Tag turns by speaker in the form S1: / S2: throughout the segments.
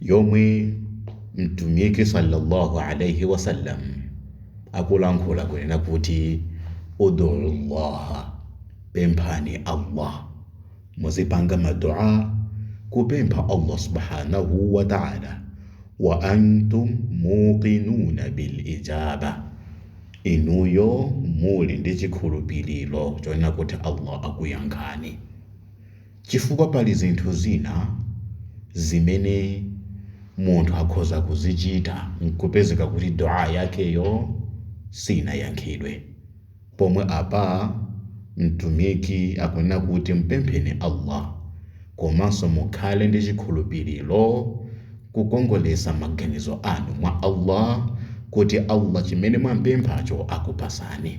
S1: yomwe Mtumiki salla Allah alaih wasallam akulankhula kunena kuti, Udu Allaha, pemphani Allah. Muzipanga ma dua, kupempha Allah subhanahu wa ta'ala, wa antum muqinuna bil ijaba, inuyo muli ndi chikhulupiliro chonena kuti Allah akuyankhani. Chifukwa pali zinthu zina zimene munthu akhoza kuzichita nkupezeka kuti Du'aa yakeyo siinayankhidwe. Pomwe apa Mtumiki akunena kuti mpempheni Allah komanso mukhale ndi chikhulupiliro, kukongoletsa maganizo anu mwa Allah kuti Allah chimene mwampemphacho akupasani.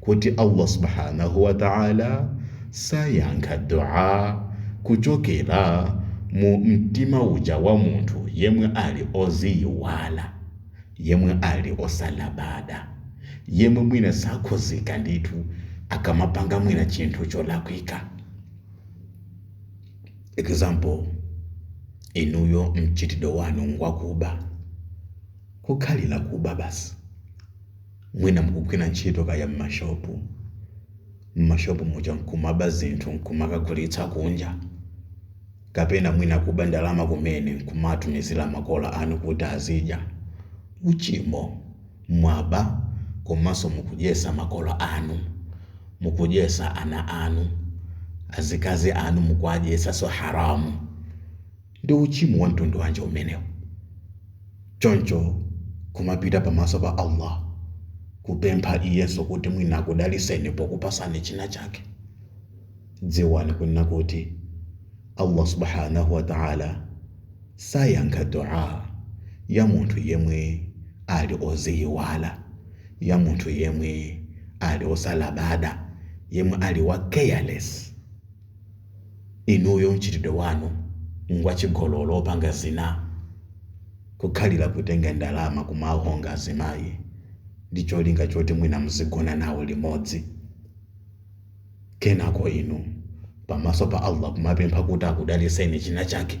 S1: kuti Allah Subhaanah wa Ta'la sayankha dua kuchokera mu mtima uja wa munthu yemwe ali oziyiwala, yemwe ali osalabada, yemwe mwina sakhuzika ndithu akamapanga mwina chinthu cholakwika. Example, inuyo mchitidwe wanu ngwakuba, kukhalira kuba basi. Mwina mukugwira ntchito kaya m'mashopu, m'mashopu muja n'kumaba zinthu n'kumakagulitsa kunja. Kapena mwina kuba ndalama kumene n'kumatumizira makolo anu kuti azidya. Uchimo. Mwaba komanso mukudyetsa makolo anu. Mukudyetsa ana anu. Azikazi anu mukuwadyetsanso haraam. Ndi uchimo wa mtundu wanji umenewu? Choncho kumapita pamaso pa Allah kupempha iyenso kuti mwina akudaliseni pokupasani china chake. Dziwani kunena kuti Allah Subhaanah wa Ta'ala sayankha dua ya munthu yemwe ali oziyiwala, ya munthu yemwe ali osalabada, yemwe ali wa careless. Inuyo mchitidwe wanu ngwachigololo opanga zinaa. Kukhalira kutenga ndalama kumawahonga azimayi ndi cholinga choti mwina muzigona nawo limodzi. Kenako inu pamaso pa Allah kumapempha kuti akudalitseni chinachake.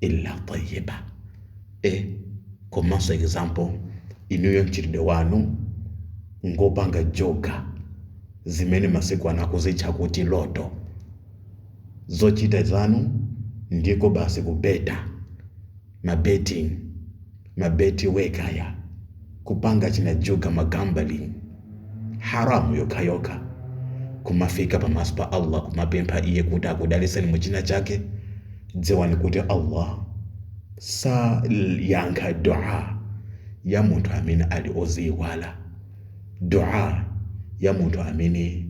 S1: illa tayyiba e komanso example inuyo mchitidwe wanu ngopanga njuga zimene masiku ano akuzitcha kuti loto zochita zanu ndiko basi kubeta ma betting ma Betway kaya kupanga china juga ma gambling haram yokhayokha kumafika pamaso pa Allah kumapempha iye kuti akudaliseni mu china chake dziwani kuti Allah sayankha dua ya munthu amene ali oziiwala dua ya munthu amene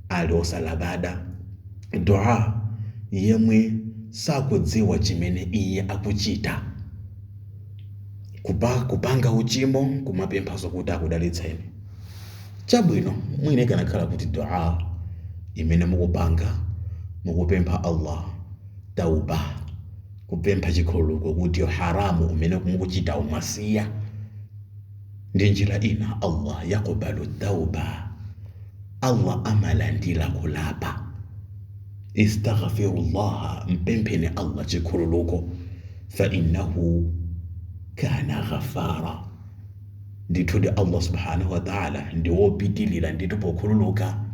S1: ali osalabada dua yemwe sakudziwa chimene iye akuchita kuba kupanga uchimo kumapemphanso kuti akudalitseni chabwino mwina ikanakhala kuti dua imene mukupanga mukupempha allah tauba kupempha chikhululuko kuti haramu umene mukuchita muwusiye ndi njira ina Allah yaqbalu tawba Allah amalandira kulapa istaghfirullaha mpempheni Allah chikhululuko fa innahu kana ghafara ndithudi Allah subhanahu wa ta'ala ndi wopitiliza ndithu pokhululuka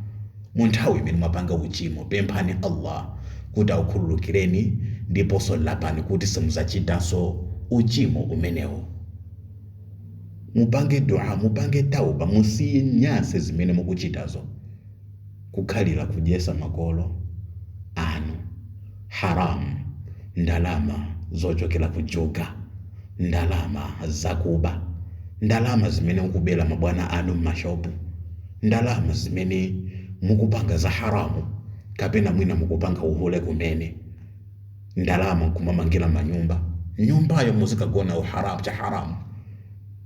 S1: mu nthawi imene mwapanga uchimo pemphani Allah kuti akukhululukireni ndiponso lapani kuti simuzachitanso uchimo umenewo Mupange dua, mupange tawba, musiye nyasi zimene mukuchitazo. Kukhalira kudyesa makolo anu haram, ndalama zochokera ku juga, ndalama zakuba, ndalama zimene mukubera mabwana anu m'mashopu, ndalama zimene mukupanga za haramu kapena mwina mukupanga uhule kumene. ndalama nkumamangila manyumba nyumbayo muzikagona mu haram cha haram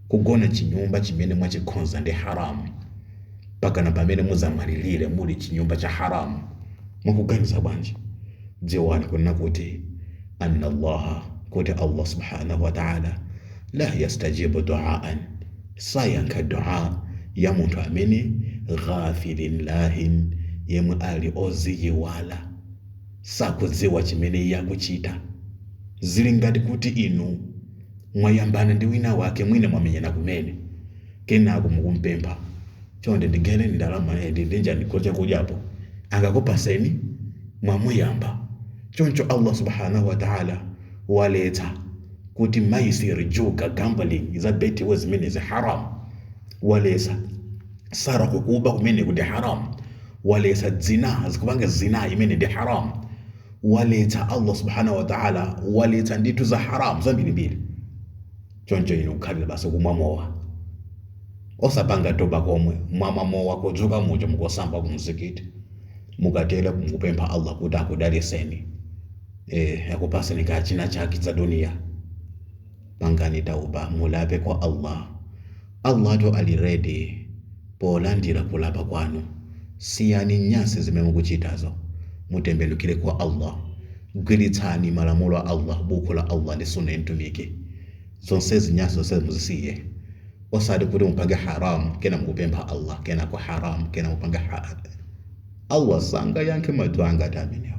S1: kugona chinyumba chimene mwachikhonza ndi haram pakana pamene muzamwalilile muli chinyumba cha haram mukuganiza bwanji dziwani kunena kuti anna allaha kuti allah subhanahu wa ta'ala la yastajibu du'aan sayankha du'a ya munthu amene ghafilin lahin yemwe ali oziyiwala sakudziwa chimene iye akuchita. Ziri ngati kuti inu mwayambana ndi winawake, mwina mwamenyana kumene, kenako mukumupempha, Chonde ndigaireni ndalama iyi, ndi, ndigaireniko chakudya apo. Angakupaseni? Mwamuyamba. Choncho Allah Subhaanah wa Ta'ala waletsa kuti maisir, juga, gambling, za Betway zimenezi, Haraam. Waletsa. salako kuba kumene kuli haram waletsa zina akupanga zina imene ndi haram waletsa allah subhanahu wa ta'ala waletsa ndithu za haram zambirimbiri choncho inu kukhalira basi kumwa mowa osapanga tauba komwe mwamwa mowa kudzuka muja mukasamba kumzikiti mukatele mukupempha allah kuti akudalitseni eh, akupatseni kachinachake za duniya pangani tauba mulape kwa allah Allahtu ali ready polandira kulapa kwanu. Siyani nyansi zimene mukuchitazo. Mutembelukire kwa Allah. Gwiritsani malamulo a Allah, buku la Allah ndi Sunnah ya Mtumiki. Zonsezi nyansi zonsezi muzisiye. Osati kuti mupange haram kena mukupempha Allah kenako haram kena mupanga halal. Allah sangayankhe ma dua ngati amenewo.